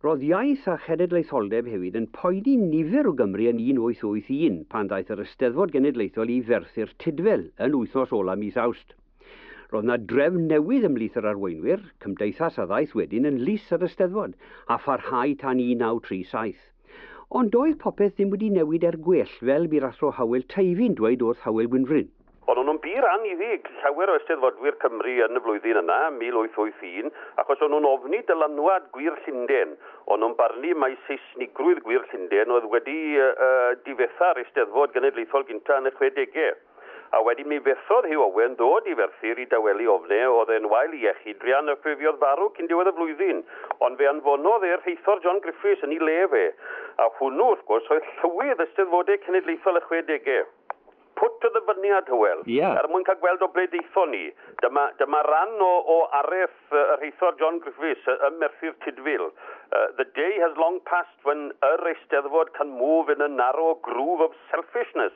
Roedd Iaith a Chenedlaetholdeb hefyd yn poeni nifer o Gymry yn 1881 pan ddaeth yr Eisteddfod Genedlaethol i Ferthyr Tudful yn wythnos ola' mis Awst. Roedd 'na drefn newydd ymhlith yr arweinwyr, cymdeithas a ddaeth wedyn yn lys yr Eisteddfod, a pharhau tan 1937. Ond doedd popeth ddim wedi newid er gwell, fel bu'r Athro Howell Teifi'n dweud wrth Howell Gwynfryn. Ond o'n nhw'n bur anniddig, llawer o Eisteddfodwyr Cymru yn y flwyddyn yna, 1881, achos o'n nhw'n ofni dylanwad gwir Llundain. O'n nhw'n barnu mai Seisnigrwydd gwir Llundain oedd wedi difetha'r Eisteddfod Genedlaethol gyntaf yn y chwedegau. A wedyn mi fethodd Huw Owen ddod i Ferthyr i dawelu ofne, o'dd e'n wael i iechyd druan a ffurfiodd farw cyn diwedd y flwyddyn. Ond fe anfonodd e'r rheithor John Griffiths yn 'i le fe. A hwnnw, wrth gwrs, oedd Llywydd Eisteddfodau Cenedlaethol y Chwedegau. Pwt o ddyfyniad, Hywel, er mwyn cael gweld o ble daethon ni. Dyma, dyma ran o, o areth y rheithor John Griffiths ym Merthyr Tudful. The day has long passed when yr Eisteddfod can move in a narrow groove of selfishness.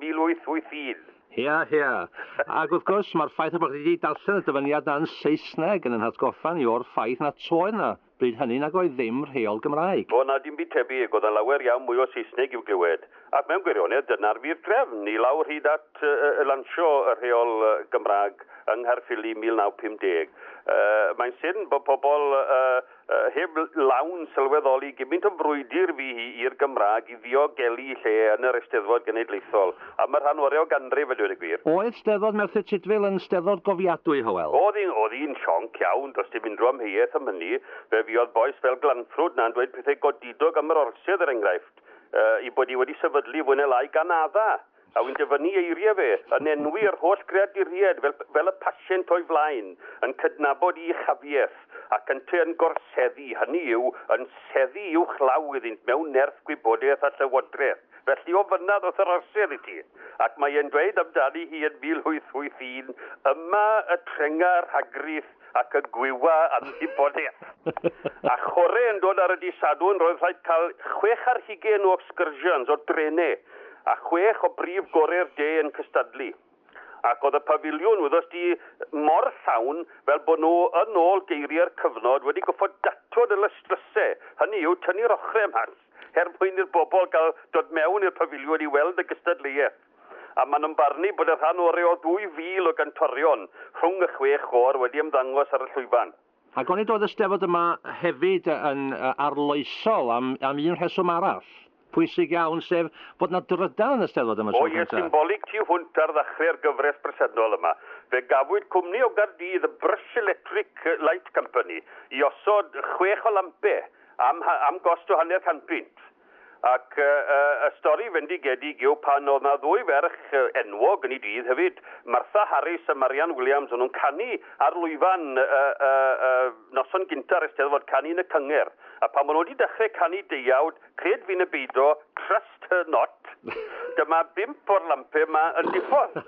1881. Hea, hea. Ac wrth gwrs, mae'r ffaith eich bod chi wedi darllen y dyfyniad yna yn Saesneg yn ein hatgoffa ni o'r ffaith nad oedd yna, bryd hynny, nag oedd ddim, rheol Gymraeg. O, na, dim byd tebyg, oedd 'na lawer iawn mwy o Saesneg i'w glywed. Ac mewn gwirionedd, dyna'r wir drefn, i lawr hyd at lansio y rheol Gymraeg yng Nghaerffili 1950. Mae'n syn bod pobl Heb lawn sylweddoli gymint o frwydr fu hi i'r Gymraeg i ddiogelu lle yn yr Eisteddfod Genedlaethol am y rhan orau o ganrif a dweud y gwir. Oedd Steddfod Merthyr Tudful yn Steddfod gofiadwy, Hywel? Oedd, oedd hi'n sionc iawn, does dim unrhyw amheuaeth am hynny. Fe fuodd bois fel Glanffrwd 'na'n dweud pethau godidog am yr Orsedd, er enghraifft, eu bod hi wedi sefydlu fwy neu lai gan adda'! a wy'n dyfynnu eiriau fe, yn enwi yr holl greaduriaid fel fel y pasient o'i flaen, yn cydnabod i uchafiaeth, ac ynteu yn gorseddu, hynny yw, yn seddu uwchlaw iddynt mewn nerth gwybodaeth a llywodraeth. Felly o fynna ddoth yr orsedd i ti. Ac mae e'n dweud amdani hi yn 1881, Yma y trenga rhagrith, ac y gwywa yn Hiboleth. A chore yn dod ar y dydd Sadwrn roedd rhaid cael chwech ar hugain o excursions, o drene, a chwech o brif gore'r de yn cystadlu. Ac oedd y pafiliwn wyddost di mor llawn fel bod nhw yn ôl geiriau'r cyfnod wedi goffod datod y lysdryse, hynny yw tynnu'r ochrau mas, er mwyn i'r bobl gael dod mewn i'r pafiliwn i weld y gystadleuaeth. a maen nhw'n barnu bod y rhan oreu o 2,000 o gantorion rhwng y chwe chôr wedi ymddangos ar y llwyfan. Ac onid oedd y Steddfod yma hefyd yn arloesol am am un rheswm arall, pwysig iawn, sef bod 'na drydan yn y Steddfod am y tro cyntaf? O ie, symbolig tu hwnt ar ddachre'r gyfres bresennol yma, fe gafwyd cwmni o Gaerdydd, y Brush Electric Light Company, i osod chwech o lampau am ha- am gost o hanner can punt. Ac y stori fendigedig yw pan oedd 'na ddwy ferch enwog yn 'i dydd hefyd, Martha Harris a Marianne Williams, o'n nhw'n canu ar lwyfan y noson gynta'r Eisteddfod, canu yn y cyngerdd. A pan o'n nhw 'di dechrau canu deuawd, cred fi ne' beido, trust her not, dyma bump o'r lampe 'ma yn diffodd.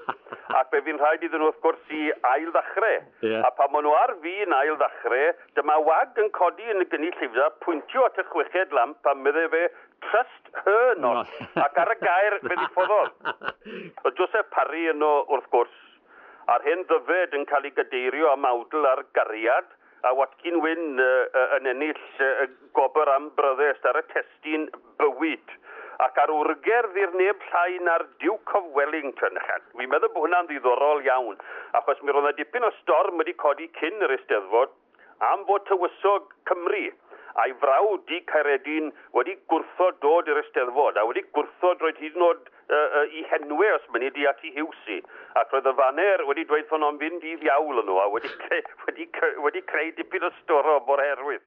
Ac fe fu'n rhaid iddyn nhw wrth gwrs i ail-ddechrau. A phan maen nhw ar fin ail ddachre, dyma wag yn codi yn y gynnullyfda, pwyntio at y chweched lamp a medde fe, Trust her not! Ac ar y gair, fe ddiffododd. Oedd Joseph Parry yno, wrth gwrs, a'r hen ddyfed yn cael ei gadeirio am awdl ar gariad, a Watkin Wyn yn ennill gwobr am bryddest ar y testun. bywyd. Ac ar wrgerdd i'r neb llai na'r Duke of Wellington. Fi'n meddwl bod hwnna'n ddiddorol iawn, achos mi roedd yna dipyn o storm wedi codi cyn yr Eisteddfod am fod Tywysog Cymru a'i frawd du Caeredin wedi gwrthod dod i'r Eisteddfod, a wedi gwrthod roed hyd yn oed i henwe os mynni di ati Hughesy. Ac roedd y faner wedi dweud wrthon nhw'n fynd i ddiawl yn nhw, a wedi creu dipyn o storm o'r herwydd.